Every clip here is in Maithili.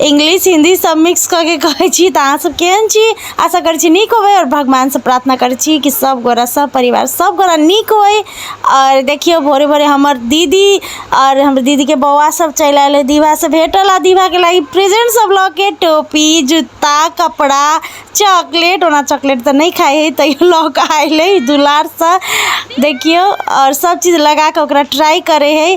इंग्लिश हिन्दी सब मिक्स कऽ के कहै छी तऽ अहाँ सब केहन छी आशा करै छी नीक होबै आओर भगवानसँ प्रार्थना करै छी कि सब गोरा सब परिवार सब गोरा नीक होइ आओर देखियौ भोरे भोरे हमर दीदी आओर हमर दीदीके बौआ सब चलि आयल अइ दीवासँ भेटल आ दीवाके लागि प्रेजेंट सब लऽ के टोपी जूता कपड़ा चॉकलेट ओना चॉकलेट तऽ नहि खाइ हइ तैयो लऽ कऽ आयल अइ दुलारसँ देखियौ आओर सब चीज लगाकऽ ओकरा ट्राई करै हइ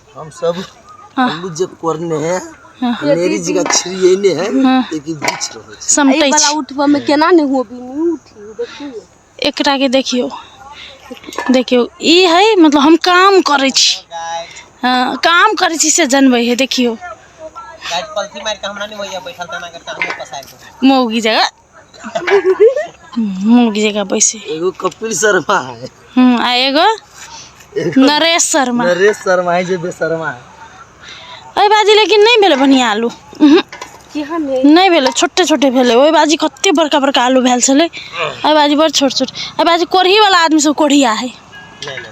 हम सब अल्लू जे करने है लेरी जी का छिड़ियने है लेकिन बीच रहे छै समटै वाला छी उठबऽ में केना ने हुआ भी नहीं उठी देखिए एकरा के देखियो देखियो ई है मतलब हम काम करै छी हँ काम करै छी से जनबै है देखियो गाइस पलथी मार के हमरा नहीं भैया बैठल तना के टांग में पसार के मौगी जगह मुर्गी जगह बैसे एगो कपिल शर्मा है हम्म, आ एगो नरेश शर्मा नरेश शर्मा है जे बेशर्मा है ओहि बाजी लेकिन नहि भेलै बढ़िआँ आलू उहुं, केहन है नहि भेलै छोटे छोटे भेलै ओहि बाजी कते बड़का बड़का आलू भेल छलै एहि बाजी बड़ छोट छोट एहि बाजी कोढ़ीवला आदमी सब कोढ़िया है नहीं नहीं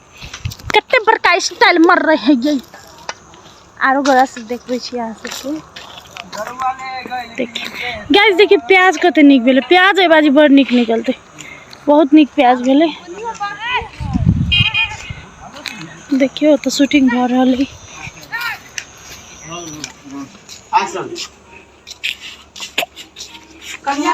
कते बड़का स्टाइल मर रहे है आरो गोरा से देखबै छी अहाँ सबके गैस देखिए प्याज कते निक भेलै प्याज एहि बाजी बड़ निक निकलते बहुत निक प्याज भेलै देखियो तो शूटिंग भ रहा है कन्या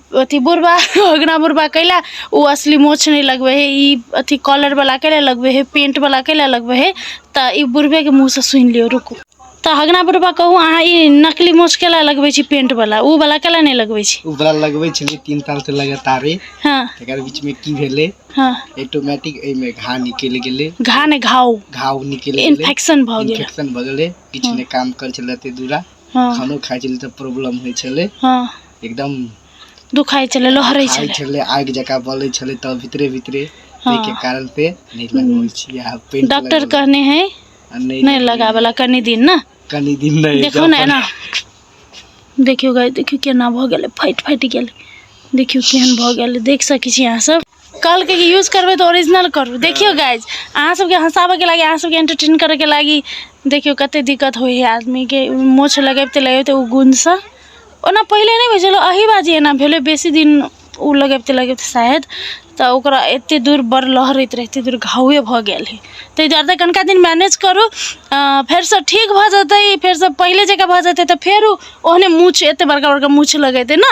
अथी बुढ़बा ओकरा बुढ़बा कैला ओ असली मोछ नहि लगबै हे ई अथी कॉलरवला कैला लगबै हे पेंटवला कैला लगबै हे तऽ ई बुढ़बेके मुँहसँ सुनि लियौ रुकू तऽ हगना बुढ़बा कहू अहाँ ई नकली मोछ कैला लगबै छी पेंटवला ओ वाला कैला नहि लगबै छी ओ वाला लगबै छलियै तीन सालसँ लगातारे हँ तकर बीचमे की भेलै हँ ऑटोमेटिक एहिमे घा निकलि गेलै घा ने घाव घाव निकलि गेलै इन्फेक्शन भऽ गेल इन्फेक्शन भऽ गेलै किछु नहि काम करै छलै ताहि दुआरे हँ खानो खाइ छलियै तऽ प्रॉब्लम होइ छलै हँ एकदम दुखाइ छलै लहरै खाइ छलै छलै आगि जकाँ बलै छलै तऽ भीतरे भीतरे हँ। ताहिके कारण पे नहि लगबै छियै आब पेंट डॉक्टर लगबै कहने है आ नहि लगबै लगाबला कनि दिन ने कनि दिन नहि देखियौ ने एना अपन देखियौ गाय देखियौ केना भऽ गेलै फाटि फाटि गेलै देखियौ केहन भऽ गेलै देख सकै छी अहाँ सब कहलकै कि यूज करबै तऽ ओरिजिनल करू देखियौ गाइज अहाँ सबके हँसाबैके लागी अहाँ सबके एंटरटेन करैके लागी देखियौ कते दिक्कत होइ है आदमीके मोछ लगबिते लगबिते ओ गुणसँ ओना पहिले नहि होइ छलै अही बाजी एना भेलै बेसी दिन ओ लगबिते लगबिते शायद तऽ ओकरा एते दूर बड़ लहरैत रहै एते दूर घावे भऽ गेल है ताहि दुआरे तऽ कनिका दिन मैनेज करू अऽ, फेरसँ ठीक भऽ जेतै फेरसँ पहिले जकाँ भऽ जेतै तऽ फेर ओ ओहने मूछ एते बड़का बड़का मूछ लगेतै ने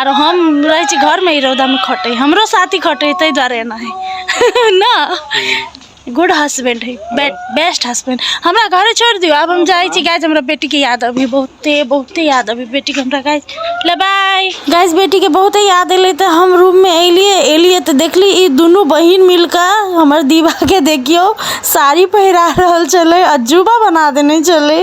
आर हम रहै छी घरमे ई रौदामे खटै हमरो साथी खटै ताहि दुआरे एना है ने गुड हसबेंड है बेस्ट हसबेंड हमरा घरे छोड़ि दियौ आब हम जाइ छी गाइज हमरा बेटीके याद अभी बहुते बहुते याद अभी बेटीके हमरा गाइज ले बाय गाइज बेटीके बहुते याद अयलै तऽ हम रूममे एलियै एलियै तऽ देखली ई दुनू बहिन मिलकऽ हमर दीवाके देखियौ साड़ी पहिरा रहल छलै अजूबा बना देने छलै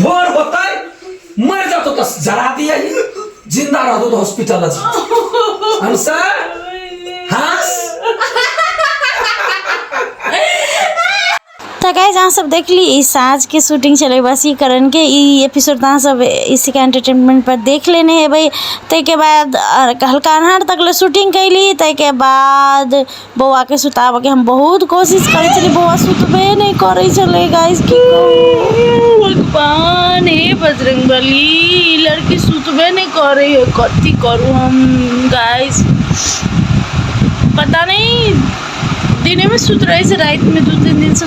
भोर होते मर जातो तो जरा दिया ही जिंदा रह दो तो हॉस्पिटल आज हम सर हंस तो गाइज अहाँ सब देख ली ई साँझ के शूटिंग चले बस ई करण के ई एपिसोड अहाँ सब इसी का एंटरटेनमेंट पर देख लेने है भाई ताहिके बाद हल्का अन्हार तक ले शूटिंग कैली ताहिके बाद बौआके सुताबऽके हम बहुत कोशिश करै छलियै बौआ सुतबे नहि करै छलै गाइस की भगवान हे बजरंग बली लड़की सुतबे नहि करै है कथी करू हम गाइस पता नहि दिनेमे सुत रहै छै रातिमे दू तीन दिनसँ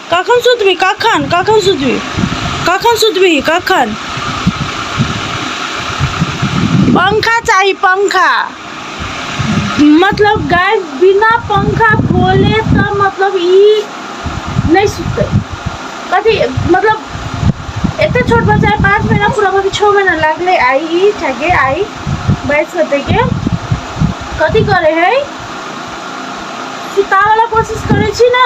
कखन सुतबी कखन कखन सुतबी कखन सुतबी कखन पंखा चाही पंखा मतलब गाय बिना पंखा खोले तऽ मतलब ई नहि सुततै कथी मतलब एते छोट बच्चा है पाँच महीना पूरा अभी छः महीना लागले आई ई ठगे आई बैठ सकते के कथी करे है सुतावला कोशिश करे छी ना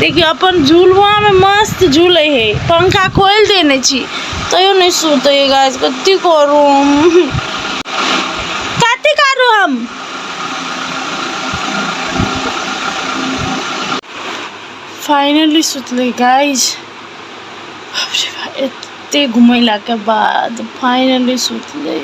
देखियौ अपन झुलुआमे मस्त झूलै हे पंखा खोलि देने छी तैयो नहि सुतै हे गाछ कथी करू कथी करू हम फाइनली सुतलै गाइज एते घुमैलाके बाद फाइनली सुतलै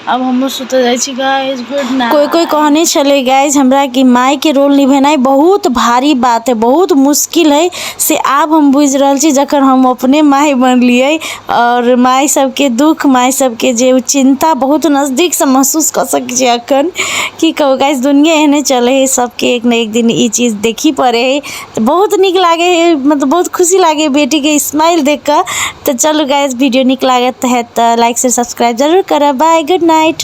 आब हमहुँ सुतऽ जाइ छी गाइज गुड नाइट कोई कोई कहने छले गाइज हमरा कि माय के रोल निभेनाइ बहुत भारी बात है बहुत मुश्किल है से आब हम बुझ रहल छी जखन हम अपने माय बनलिए और माय सबके दुख माय सबके जे चिंता बहुत नजदीक से महसूस कर सक छी अखन की कहू गाइज दुनिया एहने चले है सबके एक न एक दिन ई चीज देखी पड़े है बहुत नीक लागै हइ मतलब बहुत खुशी लागै हइ बेटीके इस्माइल देखि कऽ तऽ चलू गाइज वीडियो नीक लागैत हएत तऽ लाइक शेयर सब्सक्राइब जरूर करब बाय गुड नाइट